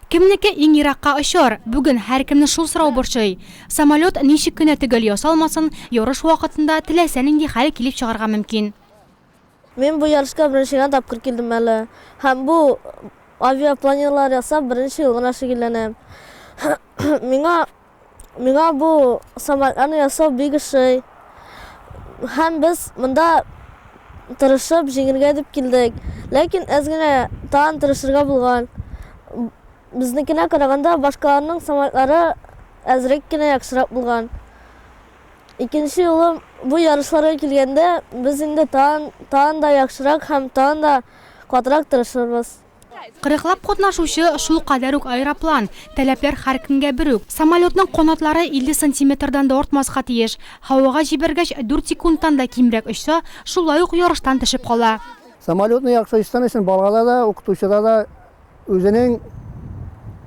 Кемнеке иң еракка очар? Бүген һәркемне шул сорау борчый. Самолет ничек кенә төгәл ясалмасын, ярыш вакытында теләсә нинди хәл килеп чыгарга мөмкин. Мин бу ярышка беренче генә тапкыр килдем әле һәм бу авиапланерлар ясап беренче ел гына шөгыльләнәм. Миңа Миңа бу самолетларны ясау бик ошый. Һәм без монда тырышып, җиңергә дип килдек. Ләкин әз генә тагын тырышырга булган. Безнекенә караганда, башкаларның самолетлары әзрәк кенә яхшырак булган. Икенче юлы бу ярышларга килгәндә, без инде тагын да яхшырак һәм тагын да катырак тырышырбыз. Кырыклап катнашучы, шулкадәр үк аэроплан. Таләпләр һәркемгә бер үк. Самолетның канатлары 50 сантиметрдан да артмаска тиеш. Һавага җибәргәч, дүрт секундтан да кимрәк очса, шулай ук ярыштан төшеп кала. Самолетны яхшы очсын өчен балада да, укытучыда да үзенең,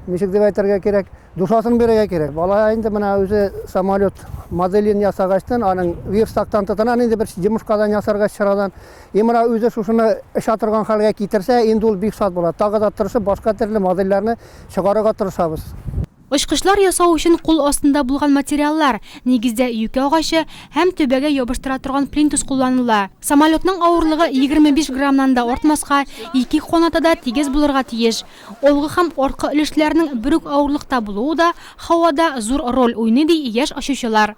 ничек дип әйтергә кирәк, душасын бирергә кирәк. Бала инде менә үзе самолет моделен ясагачтын, аның верстактан тотына, нинди бер йомыркадан ясарга чарадан, И мына үзе шушыны эчә торган хәлгә китерсә, инде ул бик шат була. Тагы да тырышып, башка төрле модельләрне чыгарырга тырышабыз. Очкычлар ясау өчен кул астында булган материаллар, нигездә юкә агачы, һәм түбәгә ябыштыра торган плинтус кулланыла. Самолетның авырлыгы 25 граммнан да артмаска, ике канаты да тигез булырга тиеш. Алгы һәм арткы өлешләрнең бер үк авырлыкта булуы да һавада зур роль уйный, ди яшь очучылар.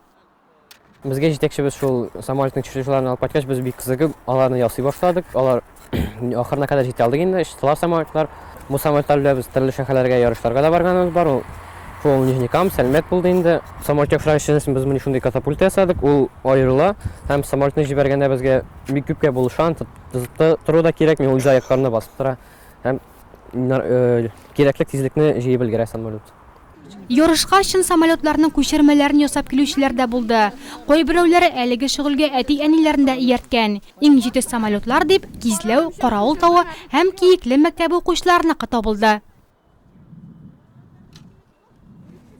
Безгә җитәкчебез шул самолетның чыгышларын алып кайткач, без бик кызыгып аларны ясый башладык. Алар ахырына кадәр җитә алдык инде, чыктылар самолетлар. Бу самолетлар белән без төрле шәһәрләргә ярышларга да барганыбыз бар. Ул шул Нижнекам, Сәлмәт булды инде. Самолет яхшырак эшләсен без моны шундый катапульта ясадык, ул аерыла һәм самолетны җибәргәндә безгә бик күпкә булышан тору да кирәкми, ул җай якларына басып тора һәм кирәкле тизлекне җыеп өлгерә самолет. Ярышка чын самолетларның күчермәләрен ясап килүчеләр дә булды. Кайберәүләре әлеге шөгыльгә әти-әниләрен дә иярткән. Иң җитез самолетлар дип Кизләү, Каравыл тавы һәм Киекле мәктәбе укучыларыныкы табылды.